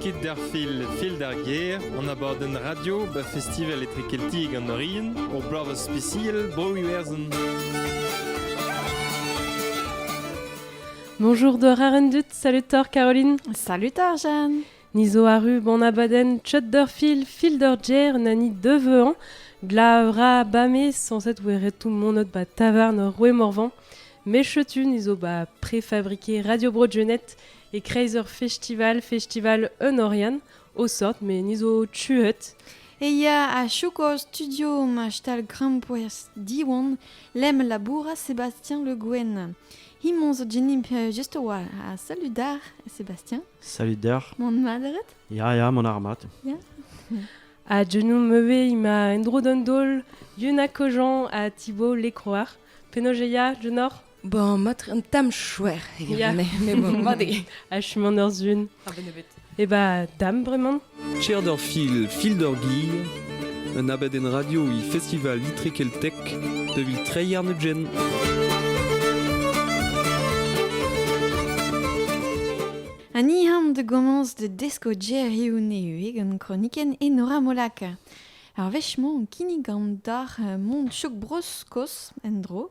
Kit d'ar fil Fil d'ar gêr, an abadenn radio ba Festival Etrekeltiek an Orion, ur bloavezh spesial Bro Iwerzhon. Bonjour Dora Rendut, salut Thor Caroline. Salut Arjan. Ni zo arru bon abadenn Chut d'ur fil, fil d'ur gêr na ni deuveañ Glav ra bame sañset e oa ret tout monot 'ba tavarn Roue-Morvan Me Chetu ni zo 'ba prefabrike Radio Bro Genette e-kreiz ur festival festival Un Oriant o sort met ni zo tuet E ya a-choukos studio ma stal grampouezh Diwan Lemm labourat Sébastien Le Guen Hemañ zo genimp just a-walc'h ha salud d'ar Sébastien Salut deoc'h. Mon madret Ya, ya, mon armat. Ya. A genou meve ima endro d'an dol Yuna Kojan a Thibaut Lecroar. Penaos e ya, Genor Bon, mat un tam chouer, e yeah. mais bon, made. A je suis en zun. Ah, ben, Et bah, dame, vraiment Cher d'ur fil, fil d'ur gir, un abadenn radio e Festival Itre Keltek davit treiñ ar nudjenn. Ha ni ham da gomañs da desko gerioù nevez gant kronikenn Enora Molaka. Ar wech-mañ kinnig an doc'h Mont Chouk Bro-Skos en-dro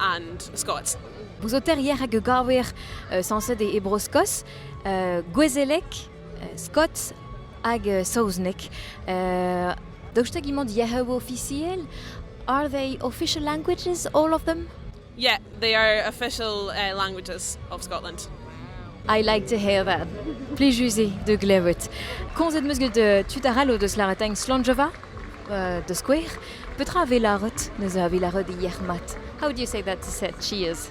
And Scots. Bouzoterier hag a gaver uh, sañset e, e Bro-Skos, uh, gouezelek, uh, Scots hag uh, saozneg. Uh, Daoust hag imant yec'heu officiel? Are they official languages, all of them? Yeah, they are official uh, languages of Scotland. I like to hear that. Plij de glevet. Komzet meus get uh, tud arall o deus larategn Slonjova? Da skouer, petra a vez lâret? Neuze a vez lâret yec'h-mat. How do you say that to say cheers?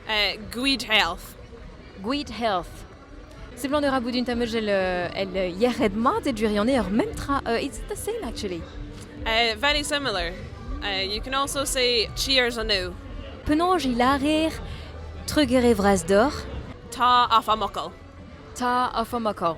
Uh, Gwid health. Gwid health. Seblant e ra bout un tamajell el yec'hed-mat e gwirionez ur mem tra. Uh, it's the same actually. Uh, very similar. Uh, you can also say cheers anew. Penaos e lârer trugere vras deoc'h? Ta af amokol. Ta af amokol.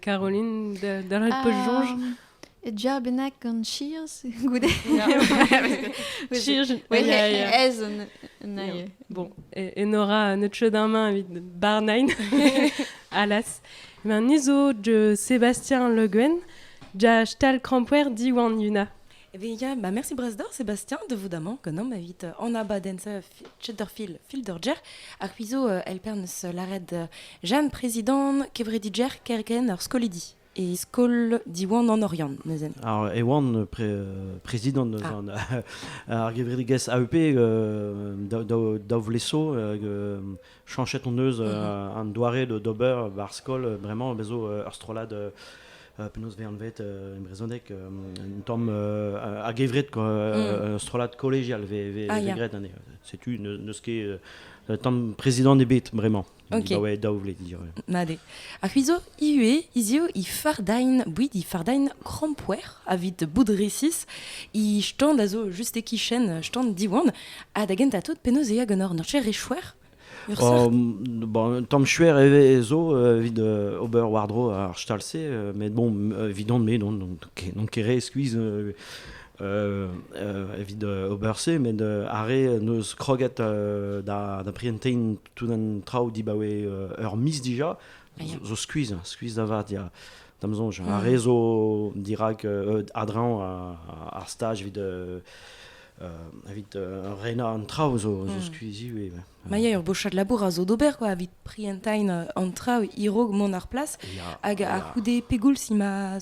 Caroline, da ret pa soñj. Ja bennak gant cheers goude. cheers, ez un aie. Bon, e Nora neutse damañ evit barnain, alas. Ben nizo de Sébastien Le Guen, ja stal krampouer diwan yuna. Eh bien, Yann, bah merci Brasdor, Sébastien, debout ganom evit euh, an abadenz euh, Chatterfield Fielderger. Ar quizo euh, elpernes lared jam prezidant kevrediger kerken ar skolidi. E skol Diwan an Oriant, nezen. Ar Ewan pre, prezidant eus ah. ar gevredigezh AEP dav leso Chanchet hon eus mhm. an doare d'ober war skol bremañ bezo ur strollad penaos veanvet en brezhoneg un tamm a-gevret mm. strollad kollegial ve, ah, graet anezhe setu n'eus ket un tamm prezidant ebet bremañ. Okay. daou vle dire. Made. A c'huizo, Ivez hiziv he fardain, bouit he fardain krampouezh evit bout resis he stand a zo just e-kichen stand Diwan ha da gentañ tout penaos e ya ganeoc'h ur cher echuer bon, tamm chuer e zo evit ober war-dro ar stal-se, met bon, evidon-me, n'on ket re skuizh evit ober se, met ar re n'eus kroget da da prientein tout an traoù dibaoe ur miz dija, zo skuizh hein, skuizh da vat ya da'm soñj ar rezo dirak euh, adreñv ar staj evit euh, euh, evit renañ an traoù zo zo skuizh ivez Ma ya ur bochad labour a zo d'ober quoi evit prientain an traoù irog mont ar plas hag a c'houde pegoulz il m'a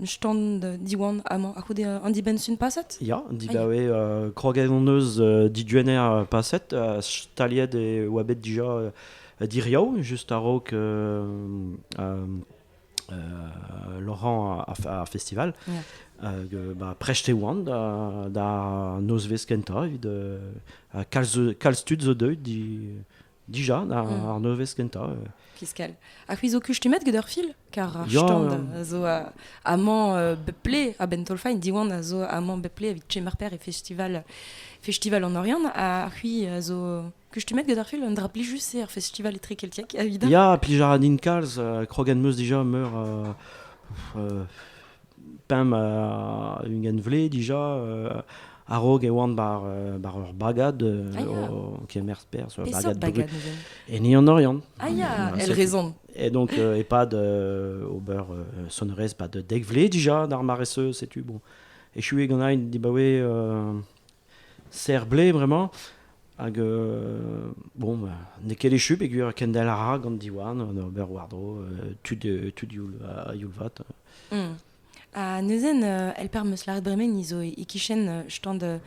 stand Diwan amañ a-c'houde an dibenn-sun paset Ya, dibaoe uh, kroged hon eus uh, diduenner paset uh, staliet e oa bet dija uh, diriaou just a-raok uh, uh, Laurent ar festival yeah. hag uh, ba, prest e oan da, da nozvezh kentañ evit uh, kalz, kalz tud zo deuet di Dija, ar, mm. ar nevez kentañ. Euh. Piscal. A c'hwi zo kustumet get ur fil Kar ar stand euh, a zo amañ euh, bep ple a Bentolfain, Diwan a zo amañ bep ple evit Chemarper e festival festival an Orient. A c'hwi zo kustumet get ur fil Un dra pli just c'est ar festival etre keltiek Ya, pli jara din kalz, krogen meus dija meur... Pemp ha ugent vle dija a-raok e oan bar, euh, bar ur bagad euh, ah, o kemer perzh. bagad bagad En Ian Oriant. Ah ya, elle raison. Et donc, euh, et pas de ober sonorez, pas de dek vle déjà d'ar maresseuse, c'est tu bon. Et je suis gant di ba we serr-blez bremañ. Hag euh, bon, bah, n'eo ket echu peogwir kendal a ra gant Diwan an ober war-dro euh, tud, euh, tud youl, a youlvat. Mm. Ha neuzen, euh, elper meus lâret bremen izo e-kichen euh, stand euh,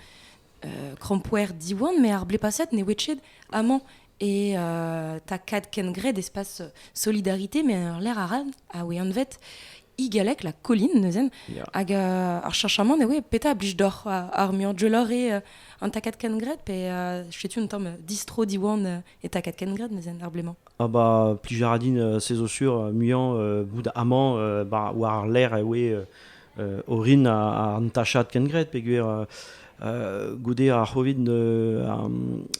krampouer Diwan, me ar blepaset ne wetchet amañ Et euh, t'as quatre kengret d'espace solidarité, mais ar l'air ara a weanvet igalek la colline neuzen yeah. hag uh, ar chanchamant e oe peta blij d'oc'h ar muiañ jolor eo uh, an takad kengret pe uh, chetu un tamm distro diwan uh, e takad kengret neuzen ar bleman Ah bah plijaradin uh, sezo sur uh, muiañ uh, bout aman uh, bah, war ar l'air e oe uh, orin an tachad kengret peguer uh, goude ar c'hovid uh,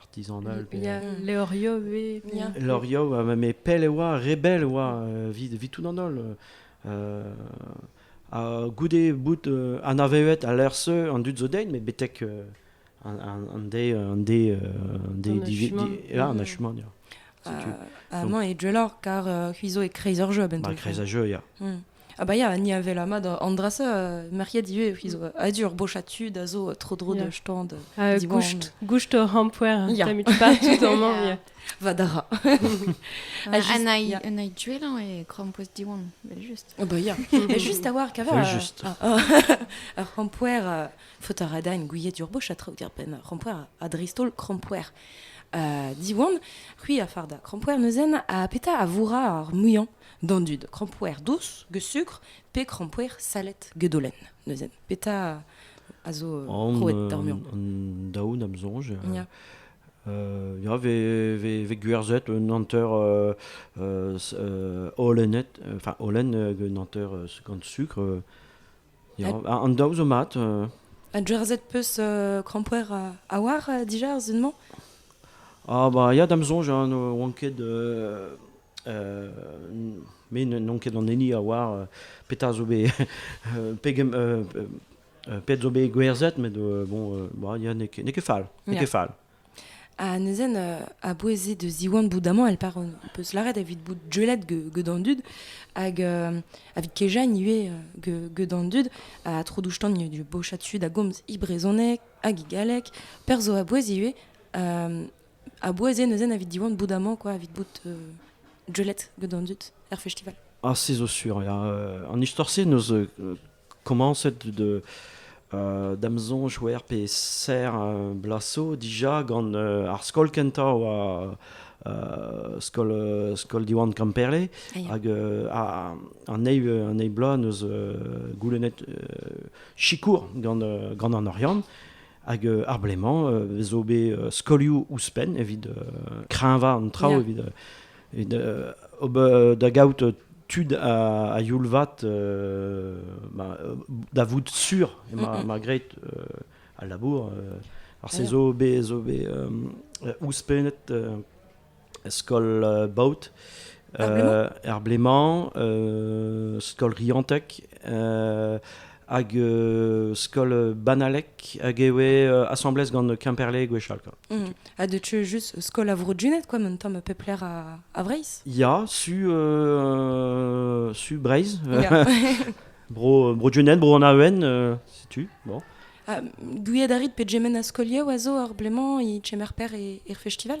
artisan all. Pe... Ya, leoriou eo. Ya. Leoriou, mais pell e oa, rebel e oa, vit tout an holl. ha goude bout uh, anaveet a lerse an dud zo dein, met betek uh, an, an, an de, an de, an de, an achement, ya. Avant, et car euh, Huizo est créiseur jeu, ben Bah, créiseur jeu, ya. Mm. Ah bah ya, ni a vela mat an dra-se, euh, merc'hiet ivez, ils ont adur bochatu da zo tro dro de stand. Euh, goust, goust o rampouer, yeah. tamit pas tout en yeah. Va dara. Un aïe duelan et crampouez diwan, juste. Ah bah ya, juste avoir qu'avoir. Juste. Un rampouer, faut arada une gouillette d'urboche à traoutir pen. Rampouer à dristol crampouer. Euh, diwan, qui a farda. Crampouer neuzen a peta a voura ar mouillan. d'an dud krampoer dous get sukr pe krampoer salet get dolenn neuze petra a zo krouet d'ar mur an daoù da'm soñj ya ya vez gwerzhet un hanter holennet enfin holen un hanter gant sukr Ya, an daou zo mat. euh. Un jersey peus euh, krampoer euh, a oar euh, dija ar zun-mañ Ah bah ya da'm soñj hein, ne oan ket euh, euh, me n'on ket an hini a oar euh, petra zo bet euh, pegen euh, euh, pet zo bet gwerzhet met euh, bon euh, bah, ya n'eo ket n'eo ket fall n'eo Yeah. ket fall. Ha neuzen, euh, a-bouez eo da ziwan bout amañ, elle part, euh, peus lâret evit bout deulet ge- get an dud, hag euh, evit kejañ ivez euh, ge- get an dud, ha tro douc'htan eo bochad tud a gomz he brezhoneg hag he galleg, perzh zo a-bouez ivez, euh, a-bouez eo neuzen evit diwan bout amañ, quoi, evit bout euh, deulet get an dud er festival. Ah, se zo sur. ya. Euh, an istor-se, neus euh, Komañset d', da'm soñj c'hwec'h pe serr bloaz 'zo dija gant ar skol kentañ a oa skol skol Diwan Kamperle hag an eil an eil bloaz neus goulennet sikour gant gant an Oriant hag ar blez-mañ 'vo bet skolioù ouzhpenn evit kreñvañ an traoù evit Evit ober da gaout tud a, youl vat, da vout sur emañ ma graet al labour. Ar se zo bet zo bet ouzhpennet skol baot. Er blez-mañ, skol Riantec, hag euh, skol banalek hag e oe euh, asambles gant Kemperle gwechall. Quoi. Mm. A de tu juste skol a vro dunet quoi, men tam a pep ler a, a Breiz. Ya, su, euh, su Breiz. bro, bro dunet, bro anaven, euh, si tu. Bon. Ah, Gouiad arit pe gemen a skolier oazo ar bleman i txemer per e, er festival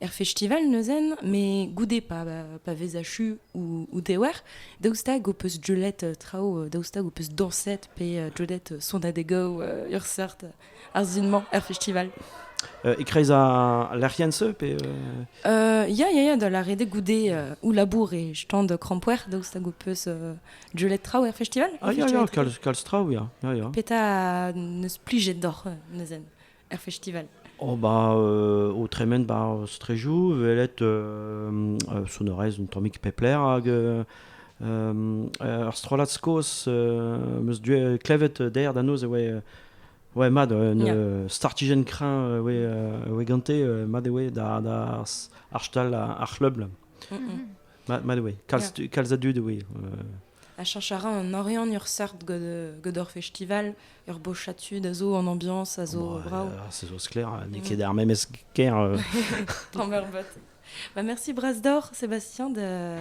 er festival neuzen, mais goude pa, pa vez achu ou, ou dewer, daoust hag o peus deulet euh, traoù, euh, daoust hag o peus dañset pe euh, deulet sonadego ur seurt ar zin-mañ er festival euh, E-kreiz a lec'hiense pe euh... Ya, ya, ya, da lâret goude euh, ou labour e stand krampouer, daoust hag o peus euh, deulet traoù er festival Ah, ya, ya, kalz, kalz traoù, ya, ya, ya. Petra neus plijet doc'h neuzen er festival Oh bah euh, o tremen bar strejou velet euh, euh, sonorez un tammig pepler hag euh, euh, ur strollad skos euh, meus du klevet der da noz e oe oe mad un Yeah. euh, startijenn kreñv euh, oe euh, oe gante euh, mad e oe da da ar stal ar ar c'hleubl Mm, mm. mad mad e oe kalz tu- kalz a dud e oe euh, Ha cheñch a ra an Oriant ur seurt gant ur festival, ur bochad tud a zo, an ambiance a zo bravo. ça zo clair, n'eo ket ar memes ker. Euh. Bah, merci Brasdor, Sébastien de,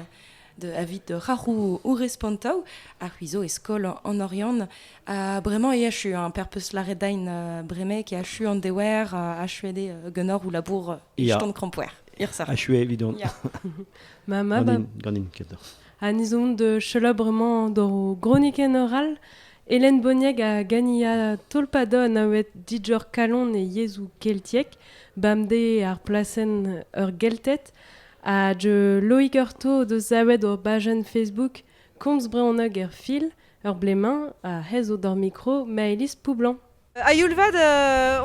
de avis de Rahu ou Respontau a huizo eskol en Oriant a bremañ e achu un perpus laredain euh, breme qui achu an dewer euh, a achuede genor ou labour iston krampoer. Achu evidon. Ma ma ba. Ganin, ganin, Ha ez omp selaou bremañ d'hor gronikenn oral. Hélène Bonieg a gania tolpado anaouet Didier Callon e yezhoù keltiek, bemdez ar plasenn Ur Gelted, ha Loig Artaud o deus savet hor bajenn Facebook Komz brezhoneg er fil, ur blez-mañ, ha aes zo d'hor mikro Maëlys Poublanc. A-youl-vat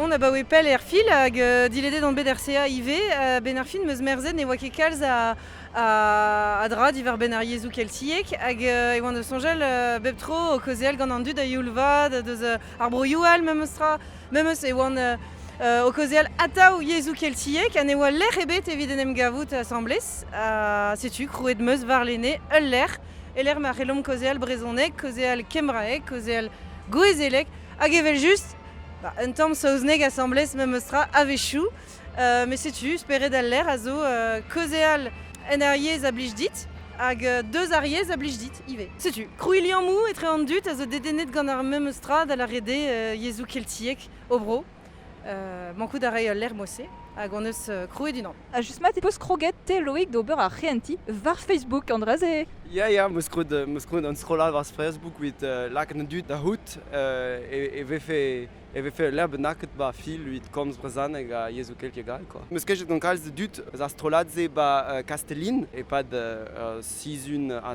on abaoe pell er fil hag diledet on bet er CA ivez. A-benn ar fin 'm eus merzet ne oa ket kalz a a dra diwar-benn ar yezhoù keltiek hag e oan da soñjal bep tro o kaozeal gant an dud a-youl-vat deus ar broioù all memestra. Memes e oan o kaozeal atav yezhoù keltiek ha ne oa lec'h ebet evit en em gavout asambles. Ha setu krouet 'm eus warlene ul lec'h, e lec'h ma c'hellomp kaozeal brezhoneg, kaozeal kembraeg, kaozeal gouezeleg. Hag evel-just, bah, un tamm saozneg asambles memes tra a-wechoù, euh, mais setu, spered al lec'h a zo euh, kaozeal en ar yezh a blij dit, hag euh, deus ar yezh a blij dit ivez. Setu, krouilliammoù etre an dud a zo dedennet gant ar memes tra da la rede euh, yezhoù keltiek o bro. mankout a ray ul lec'h mod-se hag hon eus krouet unan. Ha just mat e vo kroget te Loïc d'ober ar c'hehentiñ war Facebook an dra-se. Ya ya, meus krouet meus krouet un strollad war Facebook evit lakaat an dud da c'hoût e vefe e vefe ul lec'h bennaket 'ba fil evit komz brezhoneg ha yezhoù keltiek all quoi. Meus kejet gant kalz a dud eus ar strollad-se 'ba Kastellin e-pad sizhun ha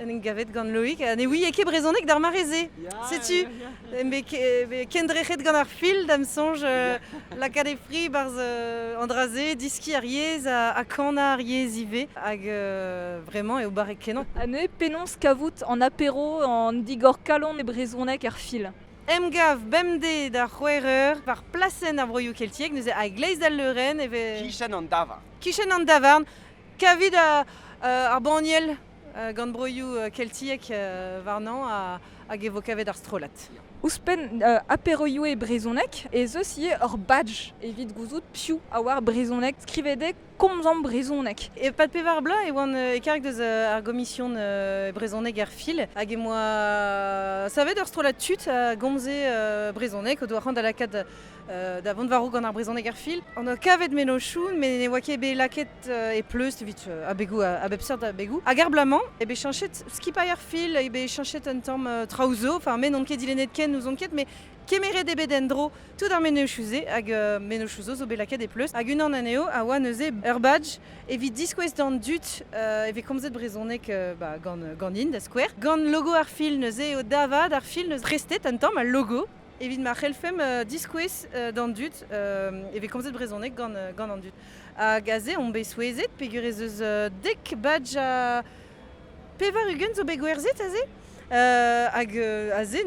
en em gavet gant Loïc. Ha ne ouie ket brezhoneg d'ar mare-se. Setu, kendrec'het gant ar fil, da'm soñj, euh, lakaat e fri barzh euh, an dra-se, diski ar yezh ha, kanañ ar yezh ivez. Hag euh, vraiment, eo barrek kenañ. Ane, penaos kavout an apero an digor kalon e brezhoneg ar fil Emgav bemdez da c'hwec'h eur war plasenn ar broioù keltiek, neuze a-gleiz d'al leurenn e vez... Kichen an davarn. Kichen an davarn, Kavit ar banniel gant broioù keltiek warnañ hag e vo kavet ar strollad. Ouzhpenn aperoioù e brezhoneg ez eus ivez ur badj evit gouzout piv a oar brezhoneg, skrivet eo Komzañ brezhoneg. E-pad pevar bloaz e oan e-karg deus ar gomision brezhoneg er Fil hag em boa savet ur strollad tud a gomze brezhoneg o doa c'hoant da lakaat da vont war-raok gant ar brezhoneg er fil. An oa kavet mennozhioù, met ne oa ket bet lakaet e pleustr evit abegoù a bep seurt abegoù. Hag er bloaz-mañ eo bet cheñchet skipailh ar fil, eo bet cheñchet un tamm traoù zo. Enfin, me n'on ket dilennet ken, n'ouzon ket, met kemeret eo bet en-dro tout ar mennozhioù-se hag mennozhioù zo zo bet lakaet e pleustr. Hag unan anezho a oa neuze ur badge evit diskouez d'an dud e vez komzet brezhoneg ba ganin da skouer. Gant logo ar fil neuze eo da vat ar fil 'neus prestet un tamm al logo. Evit ma c'hellfemp diskouez d'an dud e vez komzet brezhoneg gant an dud. Hag aze on bet souezhet peger ez eus dek badj ha pevar-ugent zo bet gwerzhet aze. hag aze,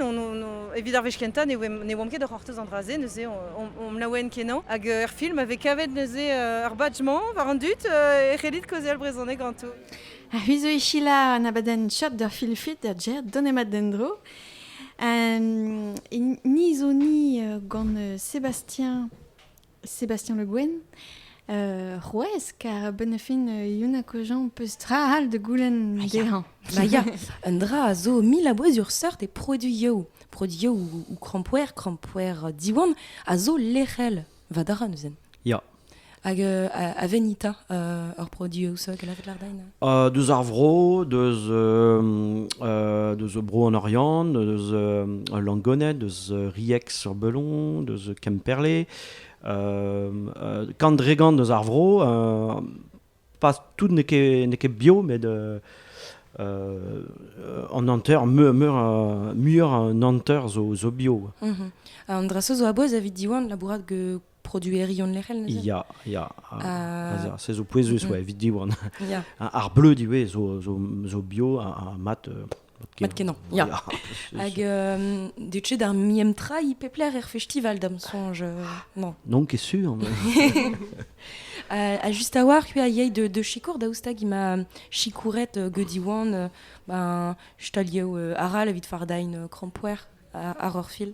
evit ar wech kentañ, ne oamp ket o c'hortoz an dra-se. Neuze omp laouen kenañ. Hag er film a vez kavet neuze ar badj-mañ war an dud e c'hellit kaozeal brezhoneg ganto. Ha c'hwi zo e selaou an abadenn Shop d'ur film-frit da Jer, donemat d'en-dro. Euh, ni zo ni euh, gant euh, Sébastien, Sébastien Le Guen. Uh, c'houez, kar benefin uh, Yunakojan peus tra all de goulenn dezhañ. Ma ya, un dra a zo mil a bouezur seurt et produioù. Produioù ou, ou crampoer, crampoer diwan, a zo lec'hel Va dara neuzen. Ya. Hag euh, a, Venita, euh, ur produoù so gelavet lardain euh, Deus ar vro, deus, deus bro an Oriant, deus Langoned, deus Riex sur Belon, deus Kemperle. Quand dregant deus ar vro, pas tout n'est ket bio, mais de, euh, an hanter, meur, meur, muioc'h an hanter zo, zo bio. Mm -hmm. An draso zo aboaz avit diwan labourat ge produeri on lec'hel neuze Ya, ya. Uh, se zo pouezus, mm -hmm. ouais, evit diwan. Yeah. Ar bleu diwez zo, zo, zo bio, ar mat... Euh, Mat kenañ, ya. Hag euh, deut d'ar miem tra i pep lec'h er festival, da'm soñj, euh, non Non, ket sur. a just a-walc'h a yei de, de sikour daoustag ima sikouret euh, gediwan ben, stalieu euh, aral evit fardain euh, krampouer ar orfil.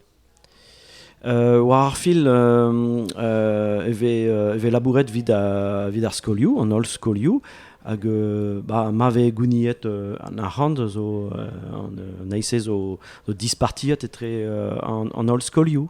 war ar fil e vez e vez labouret evit evit ar skolioù an holl skolioù hag ba ma vez gouniet an arc'hant zo an eil-se zo dispartiet etre an holl skolioù.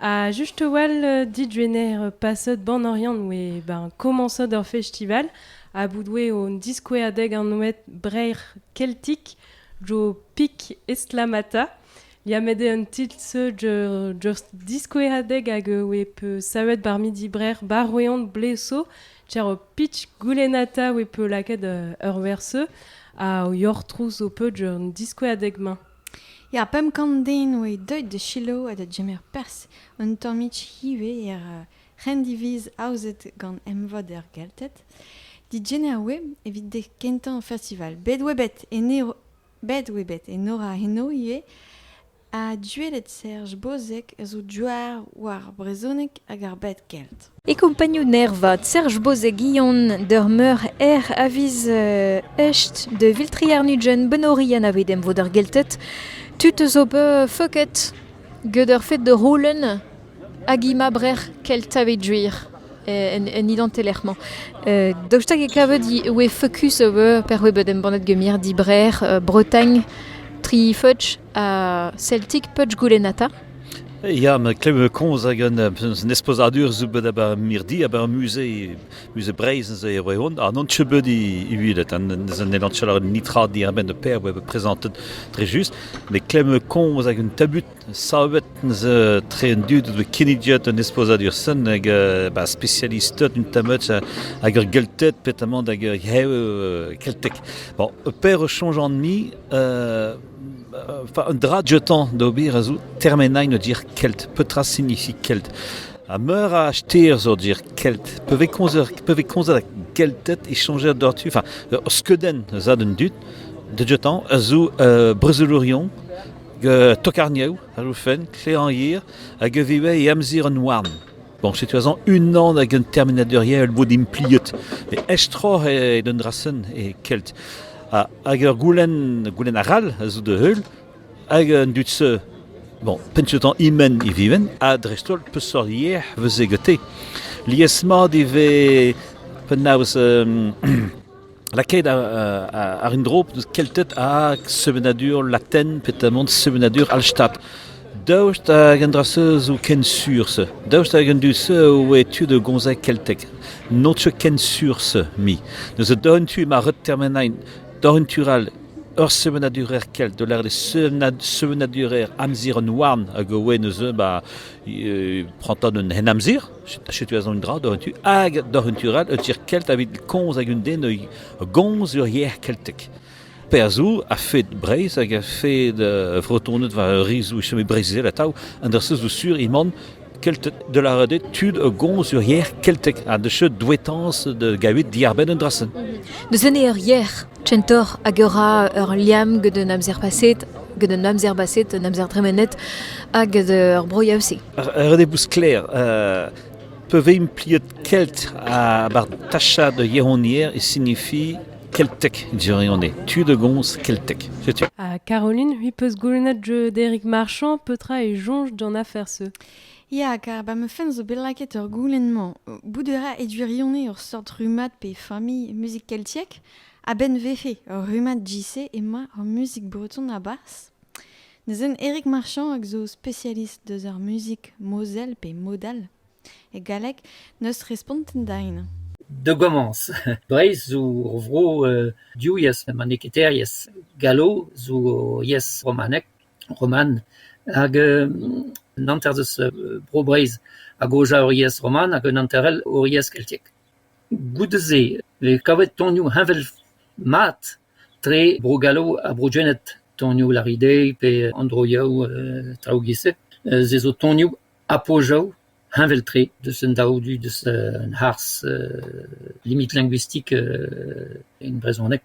Ha just a-walh dit, Jener, pasad Banoriant oe ben komañsot eur festival a boudoe on diskouerdeg anvet Breizh Keltik jo pik estlamata. Liammet eo an titl seud ur just diskoueradeg hag oe peu savet ba'r midi brer Baroeon bleso. Tier o pitch goulennata oe peu lakaet ur werzeu ha o yoc'h trouz ho peud un diskouerdeg-mañ. Ya, pemp kant den oe deuet da selaou ha da gemer perzh un tammig ivez er c'hendiviz aozet gant emvod er Gelted. Digener oe evit dek kentañ festival. Bet oe bet Enero bet oe bet Enora Heno ivez ha duellet Serj Bozeg a zo douar war brezhoneg hag ar bed kelt. E kompagnoù nervat Serj Bozeg-Guillon d'ur meur ec'h aviz echt da viltriñ ar nujenn Benorit anavet emvod ar Gelted. Tud zo bet feuket get ar fed da c'houlenn hag hi ma brec'h Kelta evit gwir en identelec'h-mañ. Daoust hag e kavet e oe feukus ober per oe bet embannet get mirdi Brec'h, Bretagne, tri feudj. Celtic Punch Goulenata. Ya, ma klev komz hag un esposadur zo bet aber mirdi, aber musée musée Breizh neuze e oa hon. An onche bet uvilet, an elanchel nitra diabenn de per oa prezentet dre just, me klev komz hag un tabut savet neuze tre un dud de kinnidiot un esposadur sen hag ba spécialistet un tamut hag ur geltet petamant hag heu keltek. Bon, per change an mi Un dra dioutañ d'ober a zo termenañ an dir kelt. Petra signifie kelt? Ha meur a ster zo dir kelt. Pa vez komzet, pa vez komzet a gelted e soñjer doc'htu, enfin, ur skeudenn eus a an dud da dioutañ a zo uh, brezelourion, tokarnioù a zo fenn, kleanhier, hag a vez ivez e amzer an houarn. Bon, setu azañ unan hag un termenadeurier a bod impliet. Met aestroc'h eo d'un dra-sen e Kelt. Ha, hag ur goulenn, goulenn arall a zo da heul. Hag an dud se, bon, pentoù-tañ imen e viven, ha dreist-holl peseurt yer vez gante. Lies-mat e vez penaos... um, lakaet àr un dro eus kelted hag sevenadur latin pe tamant sevenadur Hallstatt. Daoust hag an dra-se zo ken sur se? Daoust hag an dud-se oe tu da gomzai keltek? N'o teu ken sur se, mi. Neuze d'an tu ma ret termenain d'ar un tu all ur sevenadurer kelt, de l'air des sevenadurer amzir an houarn hag oe neuze ba prantan un hen amzir, Setu ez an un dra doc'h un tu hag doc'h un tu all un tier kelt evit komz hag un den a gomz ur yer keltek. Perzh zo a-fed Breizh hag a-fed uh, Vretoned war ur rizoù e chome Breizhizel atav an der zo sur eman Kelted de la Rede tud a gomz ur yer keltek ha de cheu douetañs da gavet diarbenn un drasenn. Deus ene ur yer kentoc'h hag e ra ur liamm gant an amzer paset, gant an amzer baset, an amzer dremenet hag ur broiañ-se. Ur redebloù sklaer. Uh, pa vez impliet kelt war tachad da yaouanier e signifie keltek dirione. Tu de gomz keltek. Setu. Ah, Caroline, oui peus goulennet jeu d'Eric Marchand, petra e soñj d'an afer-se Ya, kar 'ba ma fenn zo bet lakaet ur goulenn-mañ. Bout a ra e gwirionez ur seurt rummad pe familh muzik keltiek. A-benn vefe ur rummad JC emañ ar muzik breton a-barzh. Neuzen Eric Marchand, hag zo spesialist deus ar muzik mozel pe modal e galleg, 'neus respontet din. Da gomañs, Breizh zo ur vro uh div yezh, met n'eo ket teir yezh. Gallo zo yezh romanek. roman hag un hanter eus Bro-Breizh a gaoz ur yezh roman hag un hanter all ur yezh keltiek. Goude-se e vez kavet tonioù heñvel-mat tre Bro-Gallo ha Bro-Gened. Tonioù Laridey pe an droioù traoù giz-se. Se zo tonioù Apojav heñvel-tre deus an daou du deus an harz limit linguistik en brezhoneg.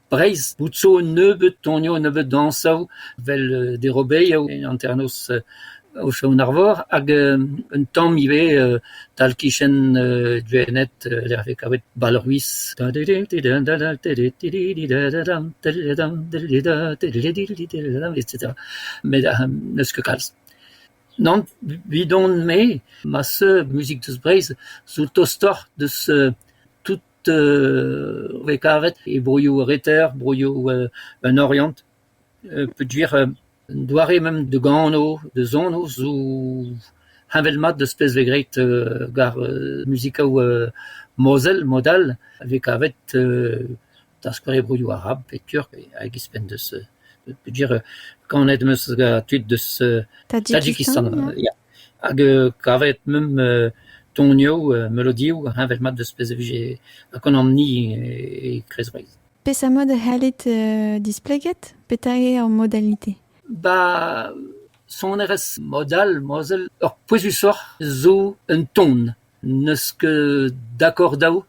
Breizh bout zo un nebeud tonioù, un nebeud dañsoù, 'vel derobeigoù en hanternoz Aochon-Arvor hag un tamm ivez tal-kichen Gwened lec'h 'vez kavet balruis. Met n'eus ket kalz. Nann, bidon-me, ma seug muzik deus Breizh zo tostoc'h deus tout eu vez kavet e broioù reter, broioù en Oriant, peogwir un doare mem da gano, da zono zo heñvel-mat d'az pez vez graet gant muzikaoù mozel, mod all, a vez kavet da skouer e broioù arab pe turk hag ouzhpenn deus peogwir kanet 'm eus gant tud deus Tadjikistan ya. Hag kavet meump tonioù, melodioù heñvel-mat eus pezh a vije Conan-ni e Kreiz-Breizh. Peseurt mod e c'hallit displeget petra eo ar modalite ? Ba sonerezh mod-all, mod-all, ur pouezusoc'h zo un ton. N'eus ket dakaordaoù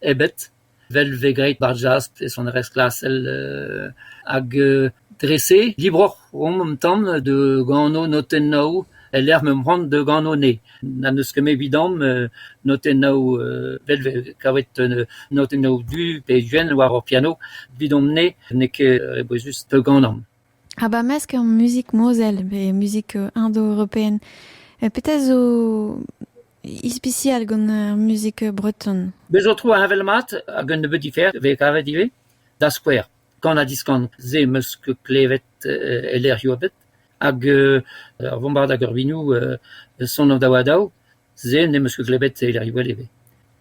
ebet. 'vel 've graet 'bar jazz e sonerezh klasel hag dre-se dibroc'h omp an tamm da gano notennoù e-lec'h m'emp c'hoant da gano ne. N'en deus ket 'met evidamp notennoù 'vel 've kavet notennoù du pe gwenn war hor piano. Evidomp-ne n'eo ket bouezus da ganomp. Ha 'ba mesk ur muzik mozel pe muzik indo-european petra zo Ispisial gant ar muzik breton. Bez zo tro heñvel mat hag un nebeud diferent vez kavet ivez, da skouer kan ha diskan. Se am eus klevet e lec'hioù a-bet. Hag ar vombard hag ar vinoù son daou ha daou, se n'em eus ket klevet e lec'hioù all ivez.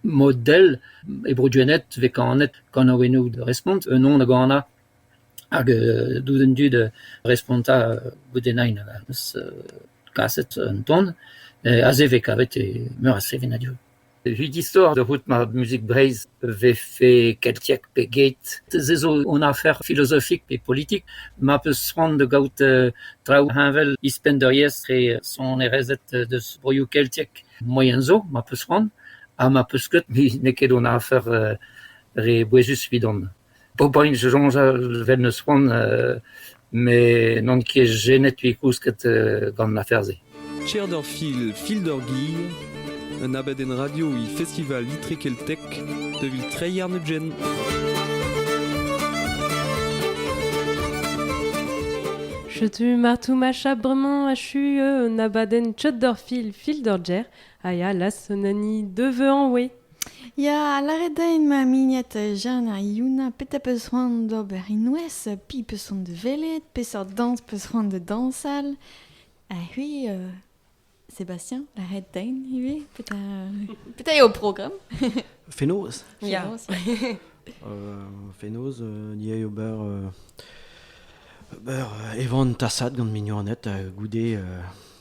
Mod-dell e Bro-Duened vez kanet kanaouennoù da respont, un on hag an a. Hag dout an dud respontañ goude nain. kaset un ton aze vez kavet meur a sevenadur. Evit istor da c'hoût ma muzik Breizh vefe keltiek pe get, se zo un afer filozofik pe politik ma peus c'hoant da gaout traoù heñvel ouzhpenn d'ur re sonerezed deus broioù keltiek moaien zo ma peus c'hoant ha ma peus ket n'eo ket un afer re bouezus evidon. Ober-int soñjal 'vel 'neus c'hoant met n'on ket jenet 'vit kousket gant afer-se. Cherder Fil, Fil d'ur Gir, un abadenn radio e Festival Itre Keltek devil Treier Nugent. Setu martoumacha bremañ achu un abadenn Cherder Fil, Fil d'ur Gir, a ya las un hani deveuañ oe. Ya, lâret din ma mignot Jeanne ha Youna petra 'peus c'hoant d'ober e-noz, piv 'peus c'hoant da welet, peseurt dañs 'peus c'hoant da dañsal, ha c'hwi, euh, Sébastien, lâret din ivez petra, petra eo ho programm? Fenoz. Ya. Fenoz, ya. Euh, fenoz, euh, ni eo ober euh, ober euh, evan tasad gant mignoned, euh, goude euh,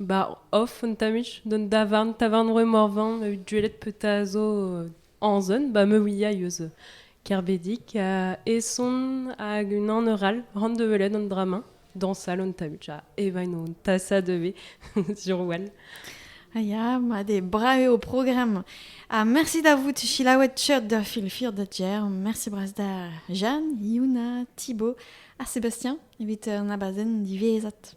Ba off an tamuch d'an davarn tavarn roe Morvan ma out gwelet petra a zo euh, anzon ba me ouia eus euh, Kerbedic ha eson hag unan eur all ran da welet an dra-mañ dañsal an tamuch ha evain on tasa devez sur wall. Ah ya, mat eo, brao eo ho programm. Ha mersi da vout selaouet tcheud da filfir da Jer. Mersi bras da Jeanne, Yuna, Thibaut ha Sébastien evit an abadenn diwezhat.